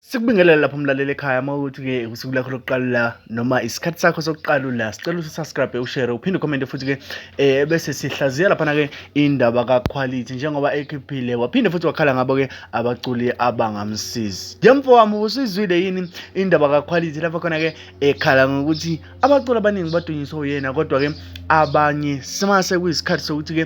Sikubingelele lapho mlaleli ekhaya uma ukuthi ke usuku lakho lokuqala la noma isikhathi sakho sokuqala la sicela ukuthi subscribe ushare uphinde ucommente futhi ke eh bese sihlaziya lapha na ke indaba ka quality njengoba ekhiphile waphinde futhi wakhala ngabo ke abaculi abangamsizi. Yemfo wami usizwile yini indaba ka quality lapho khona ke ekhala ngokuthi abaculi abaningi badunyiswa uyena kodwa-ke abanye simase kuyisikhathi sokuthi-ke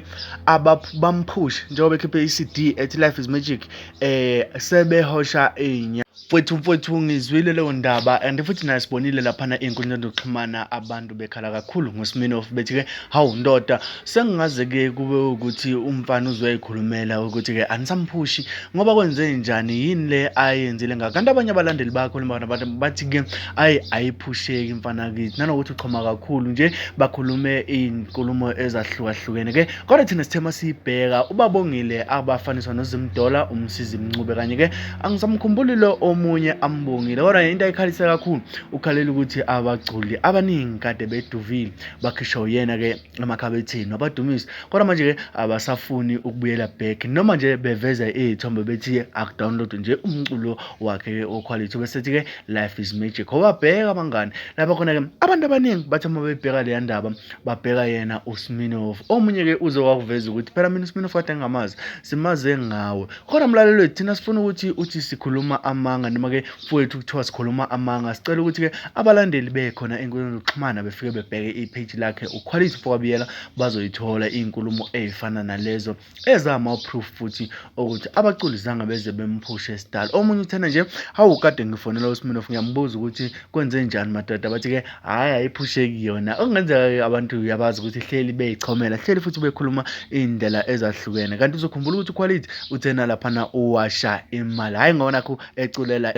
bamphushe njengoba ekhiphe i-cd ethi life is magic eh sebehosha inya mfwethu mfwethu ngizwile leyo ndaba and futhi naye sibonile laphana ey'nkundleni zokuxhumana abantu bekhala kakhulu ngosiminofu bethi-ke Hawu ndoda sengingaze-ke kube ukuthi umfana uzoyikhulumela ukuthi-ke anisamphushi ngoba kwenze njani yini le ayenzile ngakho kanti abanye abalandeli bakho lembana bathi-ke ayi ayiphusheki mfana kithi nanokuthi uxhoma kakhulu nje bakhulume iy'nkulumo ezahlukahlukene-ke kodwa thina sithema siyibheka ubabongile abafaniswa nozimdola umsizi mncube kanye-ke angisamkhumbuli lo omunye ambongile kodwa into ayikhalise kakhulu ukhalela ukuthi abaculi abaningi kade beduvile bakhishwa uyena ke emakhabethini wabadumisa kodwa manje ke abasafuni ukubuyela back noma nje beveza izithombe bethi akudownload nje umculo wakhe ke oquality bese ke life is magic wababheka abangani lapha khona ke abantu abaningi bathi uma bebheka le ndaba babheka yena uSminoff omunye ke uze wakuveza ukuthi phela mina uSminoff kade ngamazi simaze ngawe kodwa mlalelo thina sifuna ukuthi uthi sikhuluma amanga noma ke Mfowethu kuthiwa sikhuluma amanga sicela ukuthi-ke abalandeli bekhona ey'nkundleni zokuxhumana befike bebheke ipheji lakhe ukhwalisi mfowabiyela bazoyithola iy'nkulumo ey'fana nalezo ezama-proof futhi okuthi abaculi zange beze bemphushe sidala omunye uthena nje hawu kade ngifonela usminof ngiyambuza ukuthi kwenze njani madoda bathi-ke hhayi ayiphusheki yona okungenzeka-ke abantu uyabazi ukuthi hleli bey'chomela hleli futhi bekhuluma iy'ndlela ezahlukene kanti uzokhumbula ukuthi ukhwalithi uthena laphana uwasha imali hhayi ngona eculela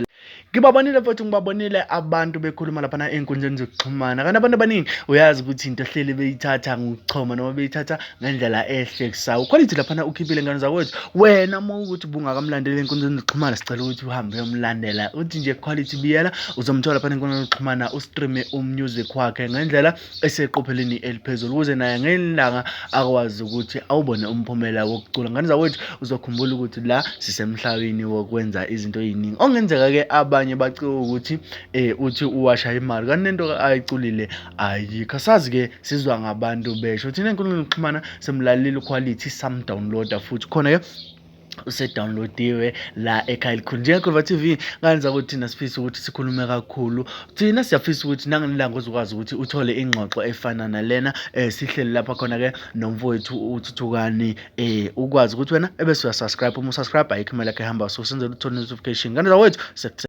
ngibabonile futhi ngibabonile abantu bekhuluma laphana ey'nkundleni zokuxhumana kanti abantu abaningi uyazi ukuthi into ehleli beyithatha ngokuchoma noma beyithatha ngendlela ehlekisayo khona ithi laphana ukhiphile ngane zakwethu wena uma ukuthi ubungakamlandeli ey'nkundleni zokuxhumana sicela ukuthi uhambe uyomlandela uthi nje quality biyela uzomthola phana ey'nkundleni zokuxhumana ustreame umusic wakhe ngendlela eseqopheleni eliphezulu ukuze naye ngelanga akwazi ukuthi awubone umphumela wokucula ngane zakwethu uzokhumbula ukuthi la sisemhlabeni wokwenza izinto eziningi ongenzeka ke abanye baciwe ukuthi eh uthi uwasha imali kanti lento ayiculile ayikho sazi ke sizwa ngabantu besho thina enkundleni yokuxhumana simlalile quality sam downloader futhi khona ke usedownloadiwe la ekhaya elikhulu njengekhova t v nganza ukuthi thina sifise ukuthi sikhulume kakhulu thina siyafisa ukuthi nangelilanga uzokwazi ukuthi uthole ingxoxo efana nalena um sihleli lapha khona-ke nomfowethu uthuthukani um ukwazi ukuthi wena ebese uyasubscribe uma usubscribe ayikho imali yakhe ehamba so senzela uthole notification kanti zawethu